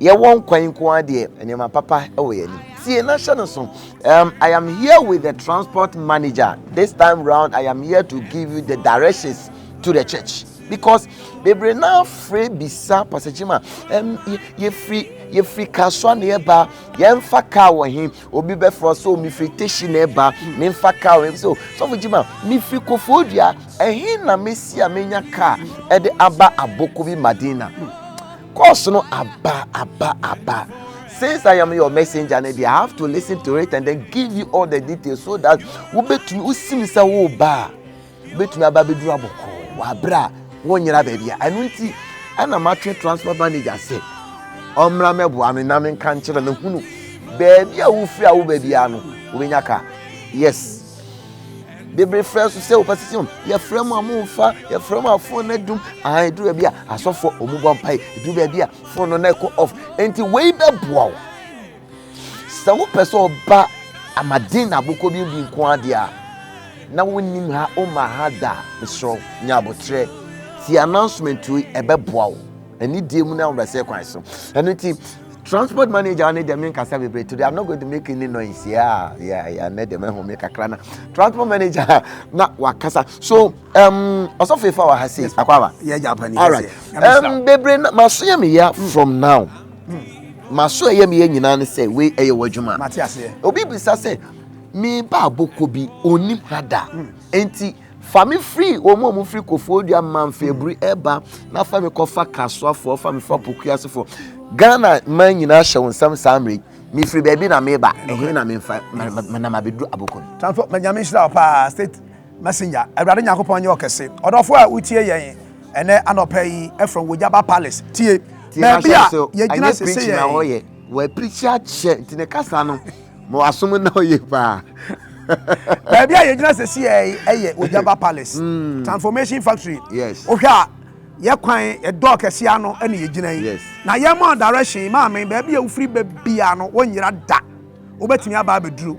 Yɛwɔ nkwa yi nko ara deɛ, nneɛma papa wɔ yɛn anim. Tie na hyɛ no so. Um, I am here with the transport manager. This time round, I am here to give you the directions to the church. Because bebree naa firi bisa pasakyima, um, yɛfiri yɛfiri kasoa na yɛba yɛmfa kaa wɔ he obi bɛfrɛ so mefiri teshi na ɛba memfa kaa wɔ he so sɔfo gyima mefiri kofoɔ dua ɛhe na mesi a menya kaa ɛde aba aboko bi madina Course no aba aba aba. Since I am your messenger no deɛ I have to listen to it and then give you all the details so that wobɛtumi wosim sɛ woba a wobɛtumi aba bɛduru abɔkɔɔ wɔ aberɛ a wonyera baabi a ɛno nti ɛna matwe transport manager sɛ ɔmmra mɛboa no na menka nkyerɛ no hunu baabi a wofiri a woba biara no wobɛnya ka yes bebree frɛ so sɛ wɔpɛ sisi wɔn yɛfrɛ mu a wɔn nfa yɛfrɛ mu a fon no adum aa edu baabi a asɔfo wɔn bɔ mpa yi edu baabi a fon no na ɛkɔ off nti wei bɛ boa o sɛ wopɛ sɛ ɔba amaden na abokɔ bi bi nko adeɛ a na wonim ha woma ha da mesrɛ nya abotrɛ ti announcement yi ɛbɛboa wo ɛne die mu no ahobrɛsɛ kwan so ɛno nti transport manager ne deɛ menkasa bebree today i'm not going to make any noise yeah yeah yeah ne deɛ mɛho me kakra na transport manager na wakasa so um ɔsɔfo efa wɔ ha sei akwaaba yɛ japanese all right um bebree na maso yɛ me ya hmm. from now hmm. maso ɛyɛ me yɛ nyinaa ne sɛ wei ɛyɛ wɔ adwuma obi bisa sɛ me ba aboko bi onim ha da hmm. enti. Fa me firi wɔn a wɔfiri Koforidua Manfaburi reba na fa me kɔfa Kasoafoɔ, fa me fa Pokuasefoɔ. Ghana man nyinaa hyɛ wo nsam saa mmerɛ yi. Mefiri baabi na meba, ɛhe na memfa menam abɛduru Abokom. Tamfo, ma Nyame nhyira wo paa, State Messenger. Awurade Nyankopɔn nyɛ ɔkɛse. Ɔdɔfo a wotie yɛn ɛnɛ anɔpa yi from Wojaba Palace, tie. Baabi a yɛgyina sese yɛn. Wɔapirikyi akyɛ nti ne kasa no Ma w'asom nna hɔ yie paa. Baabi a yɛgyina sɛsi ɛyɛ Ojaba Palace mm. Transformation Factory. Yes. Wohwɛ a yɛ kwan ɛdɔɔ kɛse ano ɛna yɛgyina yi. Yes. Na yɛn mɔ direction maame baabi a wofiri bɛbia no wɔnyera da. Wobɛtumi aba abɛduru.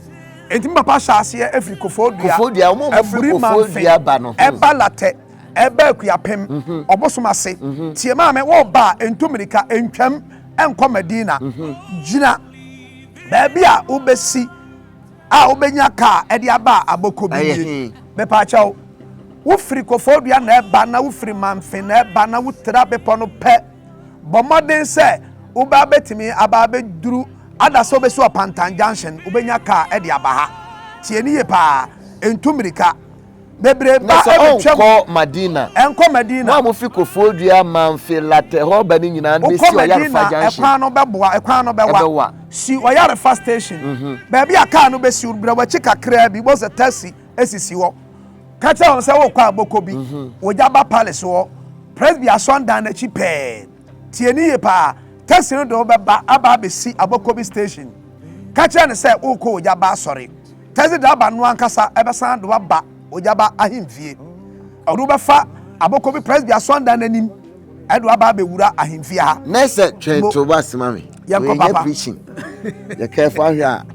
Enti mi papa hyɛ aseɛ ɛfiri kofo dua. Kofo dua wɔn a wɔfiri kofo dua ba no. Ɛba latɛ ɛba akuapem mhm. ɔbosom ase. Mhm. Tie maame wɔba a ntu mmirika ntwam ɛnkɔ Medina. Mhm. Gyina. Baabi a wobɛsi a wobɛnya kaa de aba a abɔkɔ bi nie. Mepaakyɛw, wofiri Koforidua na ɛba na wofiri Mamfe na ɛba na wotra bepɔ no pɛ. Bɔ mmɔden sɛ wobaa bɛtumi abaa bɛduru ada sɛ wobɛsi Ɔpantan Junction, wobɛnya kaa de aba ha. Tie ne yie paa, ntu mmirika. bebree ba ɛbɛtwam. na sɛ ɔnkɔ madina. ɛnkɔ madina. mo a mo fi kofoɔ dua manfe latɛhɔba ne nyinaa no bɛsi ɔyarefa junction. ɛkwan no bɛboa ɛkwan no bɛwa. ɛbɛwa. si ɔyarefa station. Mhm. baabi a kaa no bɛsi wo brɛ wakyi kakraa bi bɔ sɛ taxi esisi hɔ ka kyerɛ wɔn sɛ wokɔ aboko bi mhm. wɔgya ba palace hɔ presby asɔndan n'akyi pɛɛ. Tie no yie paa. Taxi no de wo bɛba aba abɛsi Abokobi station. Ka kyerɛ no sɛ worekɔ Ogyaba asɔre. Taxi driver no ankasa bɛsan de wo aba Ogyaba ahemfie. Ɔde wo bɛfa Abokobi Presby asɔndan no anim de wo aba abɛwura ahemfie ha. Mercer twɛn to w'ase ma me. yɛnkɔ papa. Yɛnyɛ preaching. Yɛ careful ahwɛ a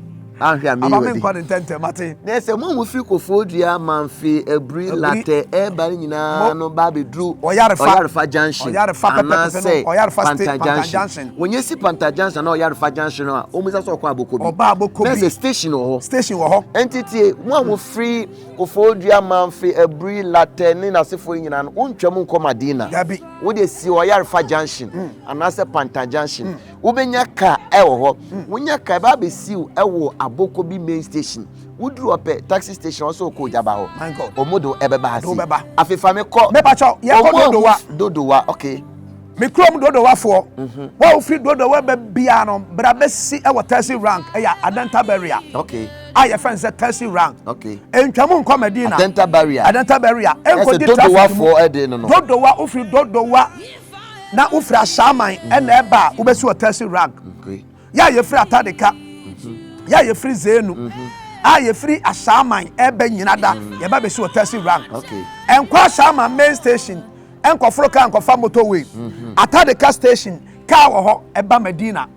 ahwɛ a meyi wadi. Aba mi nkɔ ne ntɛntɛm mate. Na ɛsɛ mo a mo firi kofoɔ dua manfe abiri latɛ ɛɛba ne nyinaa no ba abɛduru ɔyarefa junction anaasɛ panta junction. Wɔn esi panta junction anaa ɔyarefa junction a wɔn bisa sɛ ɔkɔ abokobi. Ɔba abokobi. Na ɛsɛ station wɔ hɔ. Station wɔ hɔ. Ɛnti tie mo a mo firi kofoɔ dua manfe abiri latɛ ne n'asefoɔ yi nyinaa no wɔn ntwa mu nkɔ madina. Dabi. wode si ɔyarefa junction hmm. anaasɛ pantan junction hmm. wobɛnya car ɛwɔ hɔ hmm. wonya car ɛbɛ abɛsi wo ɛwɔ aboko bi main station woduru ɔpɛ taxi station ɔsɛ ɔkɔ ogyaba hɔ ɔmo do ɛbɛba ase afefa me kɔ dodowa dodowa okay me kurom dodowafoɔ mhm. wɔn a wofiri dodowa bɛ bia no bra bɛsi ɛwɔ taxi rank ɛyɛ adanta barrier. okay. a yɛfrɛ no sɛ taxi rank okay ntwa mu nkɔ medina adenta barrier adenta barrier ɛnkɔ di traffic mu dodowa wofiri dodowa na wofiri ahyɛaman mhm. ɛna ɛba a wobɛsi wɔ taxi rank yɛ a yɛfiri atadeka mhm. yɛ a yɛfiri zenu mhm. a yɛfiri ahyɛaman ɛbɛ nyina da yɛba bɛsi wɔ taxi rank ɛnkɔ ahyɛaman main station ɛnkɔforo kaa nkɔfa motorway atadeka station kaa wɔ hɔ ɛba medina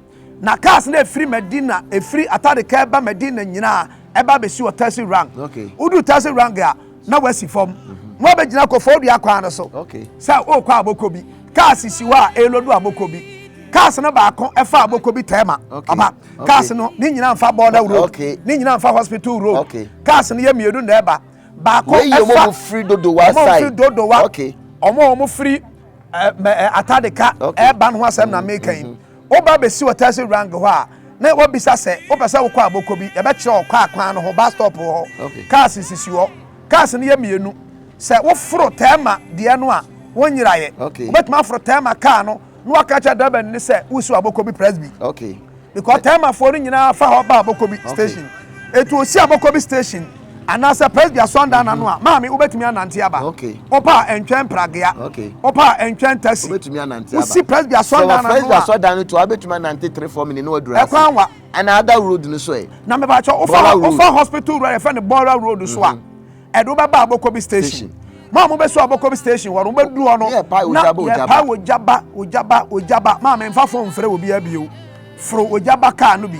Na cars na efiri Medina efiri Atadika ɛba Medina nyinaa ɛba abɛsi wɔ Tasi Rank. Okay. Wodu Tasi Rank a na wasi fam. Mhm. Na wabɛgyina kɔfɔɔ dua kwan no so. Okay. Sɛ ɔrekɔ abɔkɔ bi. Cars si hɔ a ɛrelodu abɔkɔ bi. Cars no baako ɛfa abɔkɔ bi tɛɛma. Okay. Aba. Okay. Cars no ne nyinaa nfa border road. Okay. Ne nyinaa nfa hospital road. Okay. Cars no yɛ mmienu na ɛba. Baako ɛfa. Wɔyɛ wɔn firi dodowa side. Wɔn firi dodowa. Okay. Wɔn wɔn firi ɛɛ eh, eh, Atadika. Okay. Ɛɛba no ho asɛm na meka yi. Mhm. Woba besi Hotel Sirang hɔ a, na wobisa sɛ wopɛ sɛ wokɔ a bɔkɔ bi. Yɛbɛkyerɛ wo kaa kwan no ho, bus stop wɔ hɔ, cars nsisi hɔ. Cars no yɛ mmienu. Sɛ woforo Therma deɛ no a, wonyeraeɛ. Wobɛtumi aforo Therma kaa no na woaka akyerɛ driverni no sɛ woresi wɔ Abokobi Presby. Because Thermafoɔ no nyinaa fa hɔ ba Abokobi station. Enti wɔsi Abokobi station. Anaasɛ Presby asɔrdan n'ano a, maame, wobɛtumi anante aba. Wopa a, ntwɛn pragea. Wopa a, ntwɛn taxi. Wobɛtumi anante aba. Wosi Presby asɔrdan n'ano a. Sɛ wɔ Presby asɔrdan no to a, wobɛtumi anante three four minutes na waduru ase. Ɛkwan wa. Ɛna ada road no so ɛ. Na meba kyɛ, wofa wofa hospital road a yɛfrɛ no Bora road so a, mm-hmm. ɛde wobɛba Abokobi station. Mo a mobɛsi Abokobi station hɔ no, wobɛduru hɔ no, na yɛpae ogyaba, ogyaba, ogyaba. Maame, mfa phone mfrɛ obiara bio. Foro ogyaba car no bi.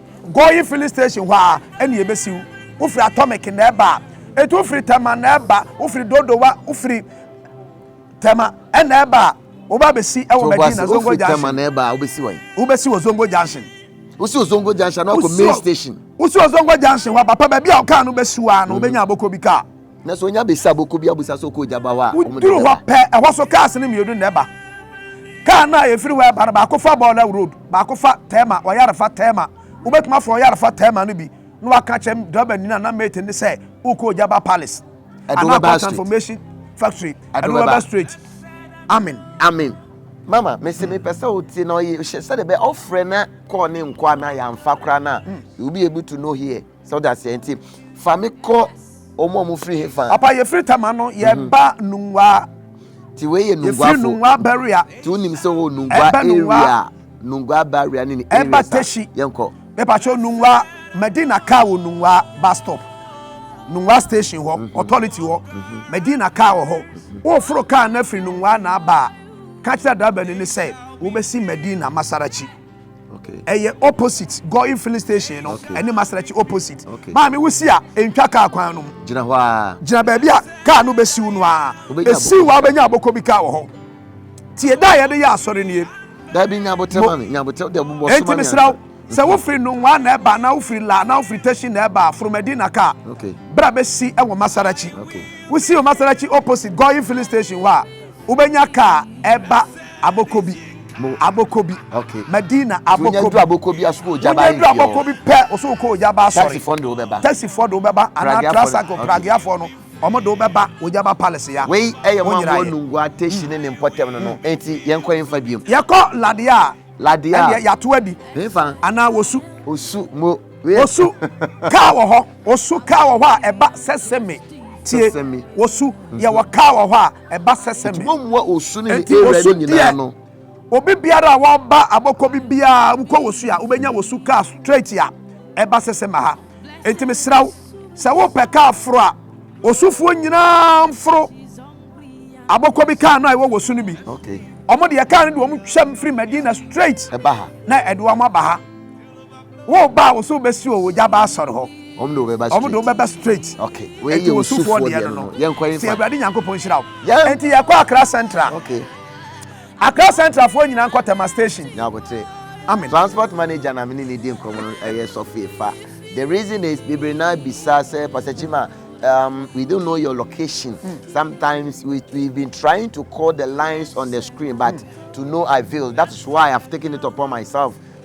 Go yi filling station hɔ a ɛne yɛbɛsi wo. Wofiri Atomic na ɛba a, ɛti wofiri Tema na ɛba, wofiri Dodowa, wofiri Tema ɛna ɛba a, woba bɛsi ɛwɔ Medina Zongo Junction. Tema na ɛba a, wobɛsi wɔn. Wobɛsi wɔ Zongo Junction. Wosi wɔ Zongo Junction na wakɔ main station. Wosi wɔ Zongo Junction hɔ a, papa baabi a ɔkaa no bɛsi wa no, wobɛnya aboko bi kaa. Na sɛ onya besi aboko bi abusa sɛ ɔkɔ ogya ba hɔ a, wɔn de bɛba. pɛ ɛhɔ so cars no mmienu na ɛba. Car no a efiri hɔ ɛba no baako fa Bɔɔlɛw road, baako fa Tɛɛma, Ɔyarefa Tɛɛma. Wobɛtumi afa Ɔyarefa Tɛɛma no bi na waka kyɛm driver ni no anaa mate no sɛ wokɔ ogya ba palace. Anaa kɔ transformation factory. Ɛdo bɛba straight. Amen. Amen. Mama, mese hmm. mepɛ sɛ wotie na ɔyɛ hyɛ sɛdeɛ bɛ ɔfrɛ na kɔɔ ne nkɔ anaa yɛamfa koraa no a, hmm. you be able to know here. sɛ ɔda aseɛ nti fa me kɔ ɔmo ɔmo firi he fa. papa yɛfiri tama no mhm. yɛba nungwaa. ti wei yɛ nungwaa fo nungwaa barrier. ti o nim sɛ o nungwaa area nungwaa barrier ne ne area sa yɛn kɔ. mepatro nungwaa medina kaa wɔ nungwaa bus stop nungwaa station hɔ mhm. authority hɔ mhm. medina kaa wɔ hɔ woforo kaa na firi nungwaa na aba a ka kyerɛ driver ni ne sɛ wobɛsi medina masarachi. ɛyɛ opposite going filling station no ɛne masaraki opposite maame wosi a ntwa kaa kwan no mu gyina hɔ a gyina baabi a kaa no bɛsiw no a ɛsiw hɔ a wobɛnya abɔkɔ bi kaa wɔ hɔ tie da a yɛde yɛ asɔre nie dabi nyabotɛ ma me nyabotɛ de bobɔ soma me mesra wo sɛ wofiri nonwa na ɛba na wofiri la na wofiri tashi na ɛba foromadi na kaa bra bɛsi ɛwɔ masaraki wosi wɔ masaraki opposite going filling station hɔ a Wobɛnya ka a ɛba Abokobi, Abokobi, Madina, Abokobi. Wonya du Abokobi a, so kɔ Ojaba Wonya du Ayefi hɔ. Abokobi pɛ, wo so kɔ Ojaba Asɔre. Taxifoɔ no de wo bɛba. Taxifoɔ de wo bɛba anaa Pragueafoɔ no, Trasaco, okay. Pragueafoɔ no, wɔn de wo bɛba Ojaba Palace ya. Wei yɛ wɔn a Wonyera wɔwɔ yɛ. Nungua, Teshie ne ne mpɔtam no no. Enti yɛnkɔ yɛmfa biom. Yɛkɔ Ladeɛ a, Ladeɛ a. ɛdeɛ yɛato adi. Hefa? Anaa Osu. Osu, mo. Wei. Osu kaa wɔ hɔ. Osu kaa wɔ hɔ a ɛba Seseme. Tie, Seseme. Osu, yɛwɔ kaa wɔ hɔ a. ɛba sɛsɛ me. Wɔmmua osu ne ne awurade nyinaa no. Obi biara a wɔba abɔkɔ bi biara wokɔ wɔ su a wobɛnya wɔ su kaa straight a ɛba sɛsɛ ma ha. Enti mesrɛ wo sɛ wopɛ kaa foro a osufoɔ nyinaa mforo abɔkɔ bi kaa no a ɛwɔ wɔ su no bi. Wɔn deɛ kaa no de wɔn twam firi Medina straight na ɛde wɔn aba ha. Wo ba a wo so bɛsi o, ogya ba asɔre hɔ. Wɔn de wɔbɛba straight. Wɔn de wɔbɛba straight. Okay. Wei yɛ osufoɔ deɛ no no. Yɛn kɔ yɛn fa. Ti awurade nyankopɔn nhyira wo. Yɛn. Nti yɛ kɔ Accra Central. Okay. Accra Central foɔ nyinaa nkɔ Tema station. Nyabotre. Amen. Transport manager na mene ne di nkɔmɔ no ɛyɛ sɔfo efa. The reason is bebree na bisa sɛ Pastor Chima um, we don't know your location. Mm. Sometimes we, we've been trying to call the lines on the screen, but mm. to no avail. That is why I've taken it upon myself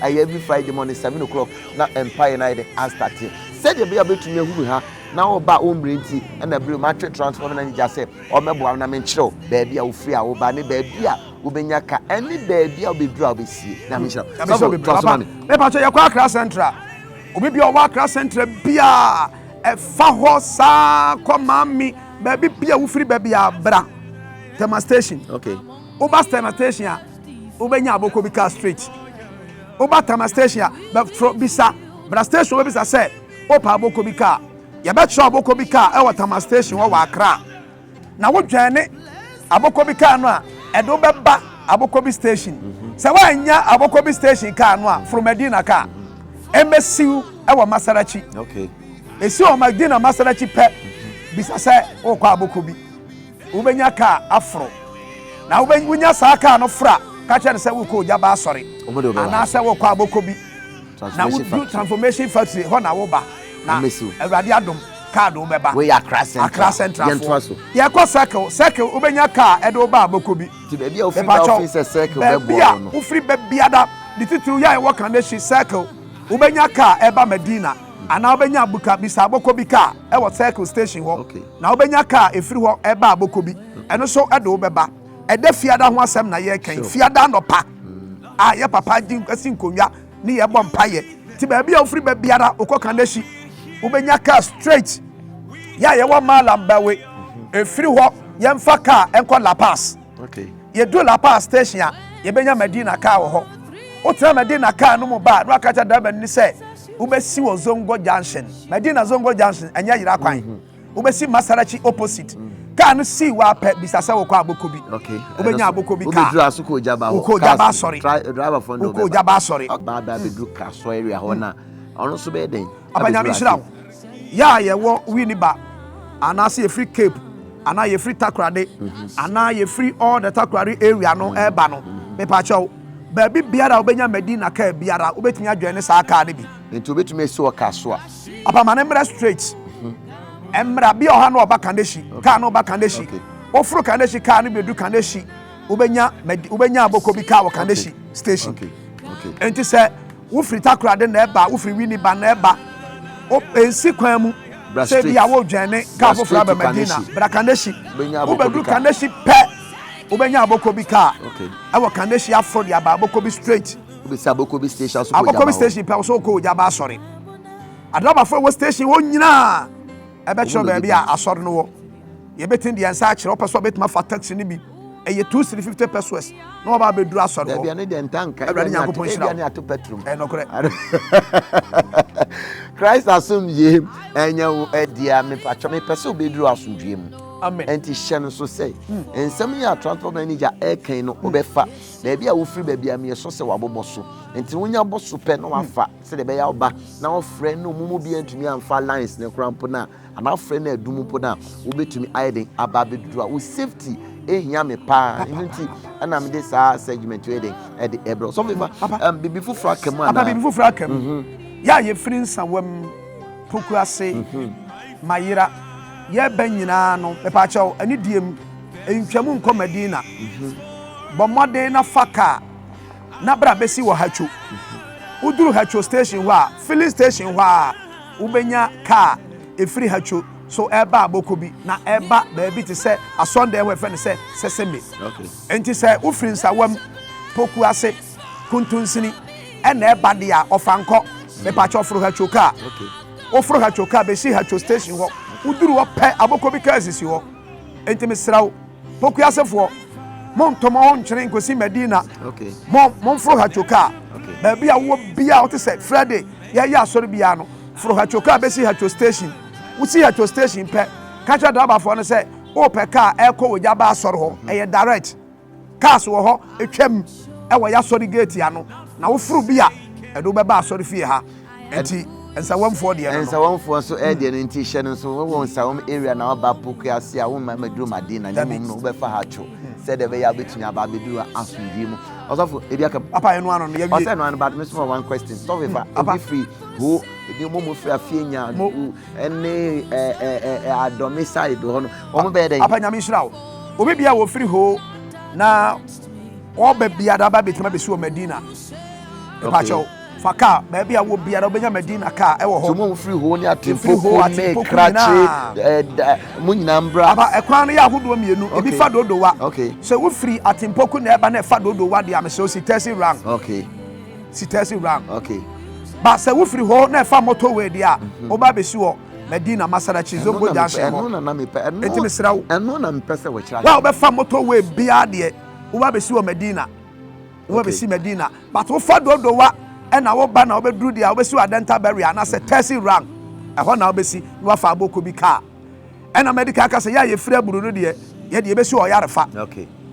Ɛyɛ every Friday morning seven o'clock na mpaeɛ no ayɛ dɛ astate sɛdeɛ ɛbɛyɛ a wobɛtumi ahu me ha na woba wo mmerɛ nti ɛna berɛ mu atwe transform na nigya sɛ ɔmɛboa wo na menkyerɛ wo baabi a wofiri a woba ne baabi a wobɛnya ka ɛne baabi a wobɛduru a wobɛsie na menhyira mɛpa sɛ yɛkɔ akra central obi bia ɔwɔ akra central biaa ɛfa hɔ saa kɔ maame baabi bia wofiri baabi a bra tɛma station okay Woba Stena station a, wobɛnya abɔkɔ bi kaa straight. Woba Tama station a, bɛforo bisa Bra station wobɛbisa sɛ wopɛ abɔkɔ bi kaa. Yɛbɛkyerɛ abɔkɔ bi kaa wɔ Tama station hɔ wɔ Accra. Na wodwɛne abɔkɔ bi kaa no a, ɛde wo bɛba abɔkɔ bi station. Sɛ woannya abɔkɔ bi station kaa no a, foro Medina kaa. Ɛmmɛsi wo wɔ Masarachi. Ɛsi wɔ Medina Masarachi pɛ, bisa sɛ worekɔ abɔkɔ bi. Wobɛnya kaa aforo. Na wonya saa kaa no foro a, ka kyerɛ no sɛ wokɔ Ogyaba Asɔre anaasɛ wokɔ abɔkɔ bi na wodu Transformation Factory hɔ na woba na Awurade adom kaa de wobɛba Accra Central foɔ. Yɛkɔ Circle, Circle wobɛnya kaa ɛde wo ba abɔkɔ bi. Mepakyɛw, baabi a wofiri ba biara ne titiriw yɛ a ɛwɔ Kaneshie, Circle wobɛnya kaa ɛba Medina anaa wobɛnya Buka bisa abɔkɔ bi kaa ɛwɔ Circle Station hɔ. Na wobɛnya car a ɛfiri hɔ ɛba aboko bi, ɛno nso de wo bɛba. Ɛdɛ fiada ho asɛm na yɛreka yi, fiada anɔpa a yɛ papa gye asi nkonnwa ne yɛbɔ mpaeɛ. Nti baabi a wofiri ba biara wokɔ Kaneshie, wobɛnya car straight. Yɛ a yɛwɔ Malam Bawe, ɛfiri hɔ yɛmfa car nkɔ La Paz. Yɛduru La Paz station a, yɛbɛnya Medina kaa wɔ hɔ. Wotena Medina kaa no mu ba a, na waka kyerɛ driver no sɛ, wobɛsi wɔ Zongo Junction. Medina Zongo Junction, ɛnyɛ yera kwan. Mhm. Wobɛsi Masarachi opposite. Mhm. Kaa no sii wɔ apɛ bisa sɛ wokɔ aboko bi. Wobɛnya aboko bi kaa. Wobɛduru aso kɔ Ojaba hɔ. Wokɔ Ojaba asɔre. Wokɔ Ojaba asɔre. Baa bɛduru Kraso area hɔ na ɔno nso bɛyɛ dɛn? Abɛduru aso. Yɛ a yɛwɔ Winneba anaasɛ yɛfiri Cape anaa yɛfiri Takorade anaa yɛfiri all the Takoradi area no ɛreba no, mepaakyɛw, baabi biara a wobɛnya Medina kaa biara, wobɛtumi adwɛn ne saa kaa no bi. Nti wobɛtumi asi wɔ kaa so a. Papa ma no mmerɛ straight. Mmra bi ɔha no ɔba Kaneshie, kaa no ba Kaneshie. Woforo Kaneshie kaa no bɛdu Kaneshie, wobɛnya wobɛnya aboko bi kaa wɔ Kaneshie station. Nti sɛ Wofiri Takoradi na ɛba, wofiri Winneba na ɛba, wo, ɛnsi kwan mu Bra sɛ straight. ebia woredwɛn ne Bra kaa foforɔ straight aba to Madina. Kaneshie. Bra Kaneshie. Wobɛnya aboko bi Wobɛduru kaa. Kaneshie pɛ, wobɛnya aboko bi kaa. Okay. Ɛwɔ Kaneshie aforo de aba aboko bi straight. Wobɛsi aboko bi station so kɔ Aboko bi Ojaba hɔ. station pɛ, wo sɛ wokɔ Ojaba asɔre. Adrabafoɔ wɔ station hɔ nyinaa. Ɛbɛkyerɛ baabi a asɔre no wɔ. Yɛbɛtumi de yɛn nsa akyerɛ. Wopɛ sɛ ɔbɛtumi afa taxi no bi. Ɛyɛ two cedi fifty pesos na waba abɛduru asɔre hɔ. Awurade Nyankopɔn nhyira wo. Ɛyɛ nokorɛ. Christ asomdwie ɛnyɛ wo ɛdia mepatwɔ mepɛ sɛ wobɛduru asomdwie mu. Nti hyɛ no so sɛ hmm. nsɛm yi a transport manager ɛkan no wobɛfa baabi a wofiri baabi a meyɛ sɔ sɛ wabobɔ so nti wonya bɔ so pɛ na wafa sɛdeɛ ɛbɛyɛ ɔba na ɔfrɛ na ɔmo mu bi antumi amfa lines ne kora mpo no a anaa frɛ no adum mpo no a wobɛtumi ayɛ den aba abɛduru a wo safety ɛhia me paa ɛno nti ɛna mede saa segment yɛ den ɛde ɛbrɛ sɔfo ifa biribi foforɔ aka mu anaa biribi foforɔ aka mu mhm. yɛ a yɛfiri nsawam poku ase mhm. mayera yɛbɛ nyinaa no mepaakyɛw ɛne diem ntwam nkɔ madina mhm. bɔ mmɔden na fa kaa na bra bɛsi wɔ Hatcho. Woduru Hatcho station hɔ a, filling station hɔ ara wobɛnya kaa ɛfiri Hatcho so ɛreba Abokobi na ɛreba baabi te sɛ Asɔndɛɛ hɔ ɛfrɛ no sɛ Seseme. Enti sɛ wofiri Nsawam, Pokuase, Kuntunsini ɛna ɛreba deɛ a, Ɔfankɔ, mepakyɛw foro Hatcho kaa. Woforo Hatcho kaa bɛsi Hatcho station hɔ, woduru hɔ pɛ Abokobi kaa sisi hɔ. Enti mesrɛ wo, Pokuasefoɔ, montɔ mo ho ntwene nkɔsi Madina. Momforo Hatchokaa. Baabi a wowɔ biara wote sɛ Friday yɛyɛ asɔre biara no, foro Hatchokaa bɛsi Hatcho station. Wosi Hatcho station pɛ, ka kyerɛ drabafoɔ no sɛ wopɛ kaa ɛrekɔ Ojaba asɔre hɔ. Ɛyɛ direct. Cars wɔ hɔ twam wɔ yɛ asɔre gate ano na woforo bi a ɛde wo bɛba asɔre fie ha nti nsawamfoɔ deɛ no nsawamfoɔ so ɛdeɛ no nti hyɛ no nso wɔwɔ nsawam area na wɔba pokua ase a womma maduru maden na ne mmom no wobɛfa ha two sɛdeɛ ɛbɛyɛ a wobɛtumi aba abɛduru asomdwee mu ɔsɔfo ebi aka papa ɛno ano no yɛwie ɔsɛ ɛno ano but me so one question sɔfo fa obi firi ho ebi mo mo firi afie nya ɛne ɛɛ adɔme side hɔ no wɔn bɛyɛ dɛ. papa nyame nhyira wo obi bia wɔ firi hoo na ɔba biara aba betuma besi wɔ medina ɛpakyɛw fa kaa baabi a wɔ biara wobɛnya medina kaa ɛwɔ hɔ tumu firi hoo ne atempoko ne krakye ɛda mo nyinaa mbra aba ɛkwan no yɛ ahodoɔ mmienu ebi fa dodowa sɛ wofiri atempoko na ɛba na ɛfa dodowa deɛ amesɛ osi tɛsi rang okay Sitɛsi wura. Okay. Ba sɛ wofiri hɔ na ɛfa motorway deɛ a, mhm. woba bɛsi wɔ Medina Masarachi Zongo junction hɔ. Enti mesrɛ wo. Ɛno na mepɛ sɛ wɔkyerɛ. Wa wobɛfa motorway biara deɛ, woba bɛsi wɔ Medina. Woba bɛsi Medina. But wofa dodowa ɛna woba na wobɛduru deɛ a, wobɛsi wɔ Adenta Barrier anaasɛ Tɛsi Rang. Ɛhɔ na wobɛsi na wafa aboko bi kaa. ɛna mɛde ka aka sɛ yɛ a yɛfiri aburo no deɛ yɛde yɛbɛsi ɔyarefa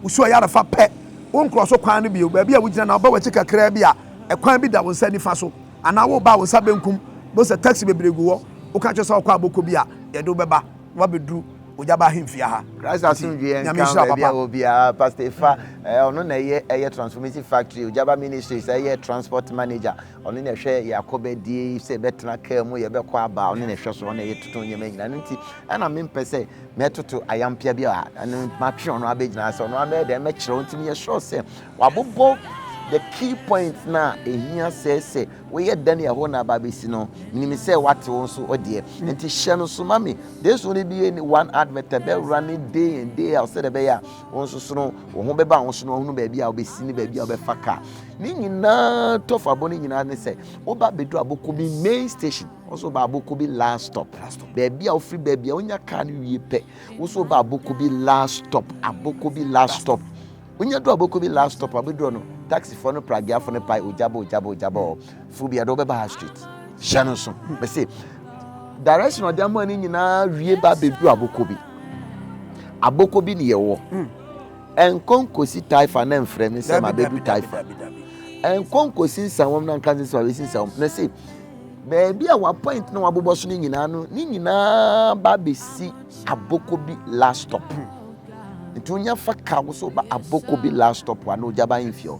wosi ɔyarefa pɛ wo nkorɔ so kwan no bio baabi a wogyina na ɔba wakyi kakraa bi a ɛkwan bi da wo nsa nifa so anaa woba a wo nsa benkum bo sɛ taxi bebree gu hɔ woka kyerɛ sɛ ɔkɔ abɔkɔ bi a yɛde wobɛba na wabɛduru ogya ba ahemfie ha christ asomdwoeɛ nka baabi a wɔ biara pastor efa ɔno na ɛyɛ ɛyɛ transformation factory ogyaba ministries ɛyɛ transport manager Ɔno na ɛhwɛ yɛn akɔbɛdie, sɛ yɛbɛtena kaa mu, yɛbɛkɔ aba, ɔno na ɛhwɛ so, ɔno na yɛtoto nneɛma nyinaa. Ɛno nti, ɛna mempɛ sɛ mɛtoto ayampea bi a ɛno matwe ɔno abɛgyina sɛ ɔno abɛyɛ dɛn mɛkyerɛ wo. Nti meyɛ sure sɛ wabobɔ the key point no a ɛhia sɛ sɛ woyɛ dɛn ne ɛhɔ na aba bɛsi no, menim sɛ wate wo nso ɔdeɛ. Hmm. Nti hyɛ no so ma me. This only be one advert, ɛbɛwura ne day and day out sɛdeɛ ɛbɛyɛ a wo nso sono wo ho bɛba wo so na ɔhunu baabi a wobɛsi ne baabi a wobɛfa kaa ne nyinaa tɔfabɔ no nyinaa ne sɛ woba bɛduru aboko bi main station wo so woba aboko bi last stop baabi a wofiri baabi a wonya kaa no wie pɛ wo so woba aboko bi last stop aboko bi last stop wonya duru aboko bi last stop a wobɛduru no taxifoɔ no pragiafoɔ no pae ogyabɔ ogyabɔ ogyabɔ fo bia de ɔbɛba ha street hyɛ no so mese direction ɔde ama no nyinaa wie ba bɛduru aboko bi aboko bi ne yɛwɔ hmm. ɛnkɔnkɔsi taifa na mfrɛ me sɛ mabɛdu taifa ɛnkɔnkɔsi nsawam na nka sɛ wabɛsi nsawam na se baabi a wapoint na wabobɔ so no nyinaa no ne nyinaa ba bɛsi aboko bi last stop hmm. nti wonya fa ka wo sɛ woba aboko bi last stop a na ogya ba mfie hɔ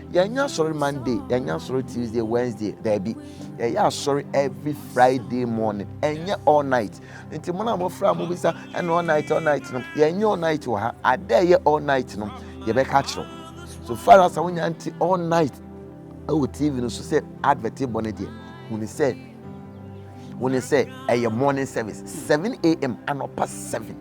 Yɛnyɛ asɔre Monday, yɛnyɛ asɔre Tuesday, Wednesday, daabi. Yɛyɛ asɔre every Friday morning, ɛnyɛ all night. Nti mo na mo fra mo bisa ɛna all night, all night no, yɛnyɛ all night wɔ ha. Ada ɛyɛ all night no, yɛbɛka kyerɛw. So far as a wonya nti all night ɛwɔ TV no so sɛ advert bɔ ne deɛ, huni sɛ wo ne sɛ ɛyɛ morning service 7am anɔpa 7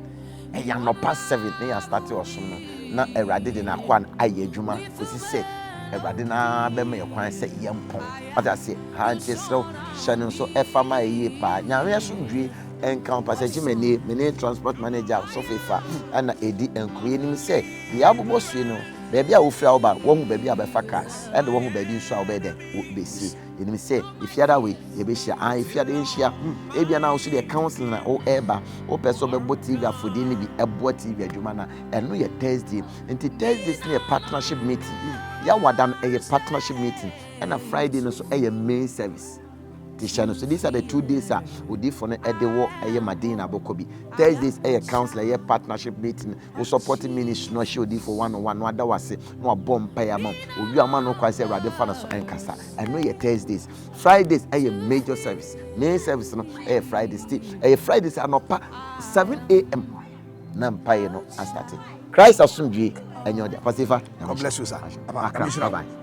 ɛyɛ anɔpa 7 na yɛ astate ɔsom no na awurade de n'akoa no ayɛ adwuma kɔsi sɛ awurade no ara bɛma yɛ kwan sɛ yɛmpɔn wate aseɛ ha nti ɛserɛ wo hyɛ no nso ɛfa ma ɛyie paa nyameɛ somdwie ɛnka wo pasakyi manie me ne transport manager sɔfo fa ɛna ɛdi nkuro anim sɛ deɛ abobɔ sue no baabi a wofiri a woba wɔhu baabi a bɛfa cars ɛde wɔhu baabi nso a wobɛyɛ dɛn wobɛsi Yɛnim sɛ efiada wei yɛbɛhyia ah efiada yɛnhyia hmm ebia na ahosuo deɛ counseling na ɔreba wopɛ sɛ ɔbɛbɔ tv afɔdie no bi ɛboa tv adwuma na ɛno yɛ thursday nti thursdays no yɛ partnership meeting hmm, yawada no ɛyɛ partnership meeting ɛna friday no so ɛyɛ main service te hyɛ no so these are the two days a odifo no ɛde wɔ ɛyɛ madina abɔkɔ bi thursdays ɛyɛ counseling ɛyɛ partnership meeting Wo support ministry no ɔhyɛ odiifo one on one no ada wase na wabɔ mpae ama wo. Owie ama no kwa sɛ Awurade fa no so nkasa. Ɛno yɛ Thursdays. Fridays ɛyɛ major service. Main service no ɛyɛ Fridays. Ti ɛyɛ Fridays anɔpa 7 a.m. na mpae no asate. Christ asomdwie ɛnyɛ ɔde. Pastor Ifa. God bless you sir. Akra. Bye bye.